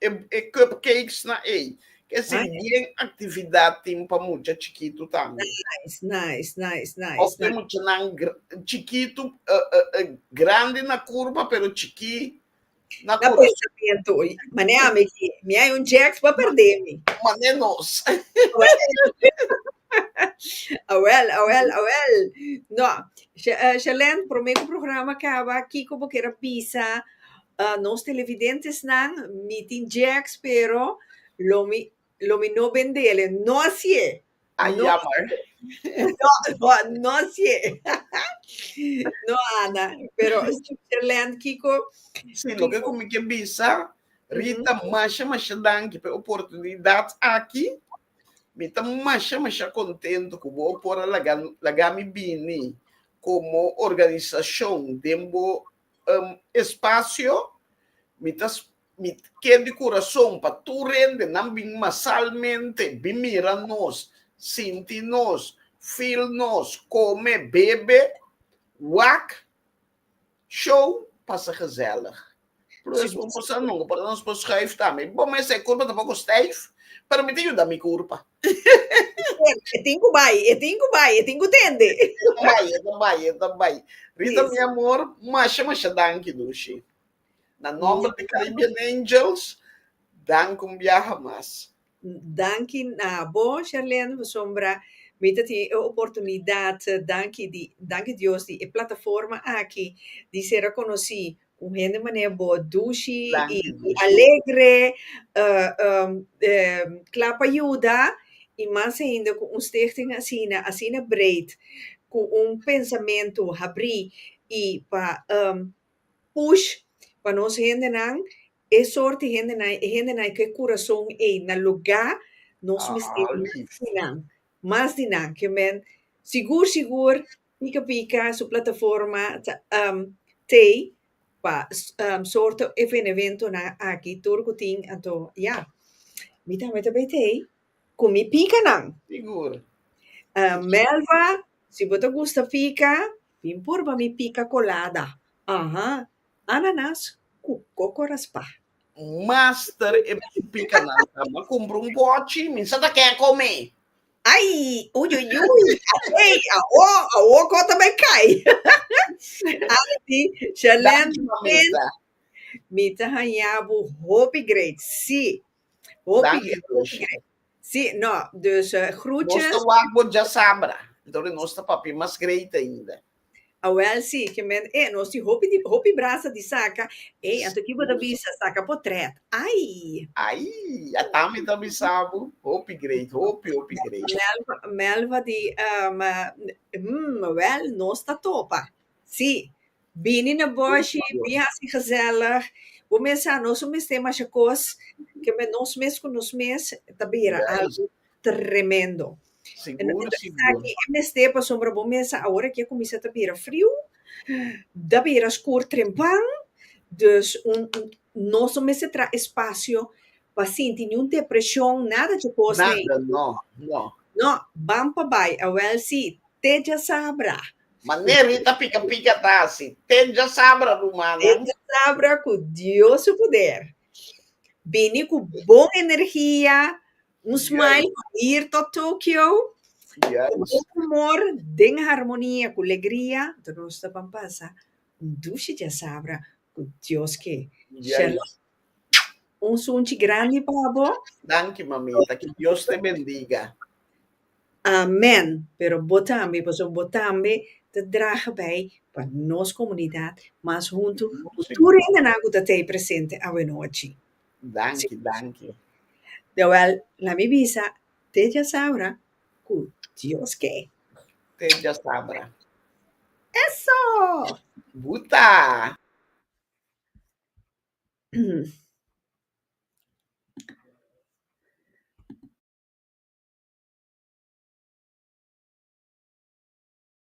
e, e cupcakes na ei. Ke si ah, bien actividad tin pa mucha chiquito tambe. Nice, nice, nice, nice. Of nice. mucha nan chiquito, uh, eh, uh, eh, uh, eh, grande na curva, pero chiqui na, na curva. pensamiento. Mané a mi, mi hay un jacks pa perder mi. Mané nos. awel, awel, awel. No, Shelen, eh, prometo programa acaba, Kiko, porque era pisa, Ah nos televidentesnan, mi tin Jack's pero lo mi lo mi no bendele. No así e! Ah, No. jammer. No, no, no así e. No, Ana. Pero, Switzerland, Kiko, Sí, loke ku mi ke bisa, Rita, masha masha danki pa e oportunidat aki. Mi ta masha masha kontentu ku bo a por a laga laga mi bini komo organisashon den bo um espacio mi ta mi kier di curason pa tur rende nan bin masalmente bin mira nos sinti nos feel nos come bebe wak show pasa gezellig puru es bon cosa nunca por ta nos por schuif tambe bon mi esei curpa tampoco stijf pero mi ta yuda mi curpa. E tin cu bay, e tin cu bay, e tin cu tende. E ta bay, e ta bay, e ta bay. Rita, mi amor, masha, masha danki dushi. Na nomber di Caribbean Angels, danki un biaha mas. Danki na bo, Sharlene, pasobra mi ta tin e oportunidad, danki di, danki Dios di e plataforma aki di sera conoci Un hende manera bo, dushi i alegre, kla pa yuda, i mas ainda ku un stichting asina, asina breed, ku un pensamentu habrí i pa push pa nos hendenan, e sort di hendenan, e hendenan ku e kurason ei na lugá, nos mester mas di nan, mas di nan. Ke men sigur sigur Pika pika su plataforma ta um tei pa um sorto evenementonan aki tur ku tin anto ya. Mi tambe ta bay tei ku mi pikanan. Sigur. Um Melva, si bo ta gusta pika, bin purba mi pika colada. Aha, ananas ku coco raspa. Master e pikanan. Mi a kumpra un pochi, mi sa ta ke kom'é. Ai, ui, ui, ui, ei, awo, awo kota bay kai. Ari di, Sherlyn, ken, mi ta hañabu hopi great, si, hopi great, hopi great. Si, no, dus, uh, groetjes. Nos ta wak bo djasabra, entonces nos ta papia mas great ainda. Awel si, ke men e nos tin hopi di hopi brasa di saka, ey anto ki bo ta bisa saka po trèt, ay. Ay, a ta mi ta bisa bo, hopi great, hopi hopi great. Melva, Melva di, um, hmm, awel nos ta topa, si, bini na boshi, bin hasi gezellig, bo mes sa nos no mester masha kos, ke men nos mes ku nos mes ta bira algu, Tremendo. Sigur sigur. E mester pasobra bo mesa awor a kier kuminsá ta bira friu, ta bira skur trempan, dus un nos no mester traha espasio pa sinti niun depreshon nada chokos ei. Nada no, no. No, ban pa bai awel si te djasabra. Manera mi ta pika pika ta hasi, te djasabra rumannan. Te djasabra ku Dios su poder bini ku bon energia Un smile pa bir tot Tokio. Yes. Un humor den harmonia cu legria, anto nos ta ban pasa un dushi diasabra cu Dios ke. Yes. Shalom. Un sunchi grandi pa bo. Danki mamita, que Dios te bendiga. Amen. Pero bo tambe, pasobra bo tambe ta draha bij pa nos comunidad mas hunto cu tur hendenan cu ta tei presente awe nochi. Danki, danki. Deuel, na mi bisa, te djasabra ku Dios ke. Te djasabra. Eso! Buta!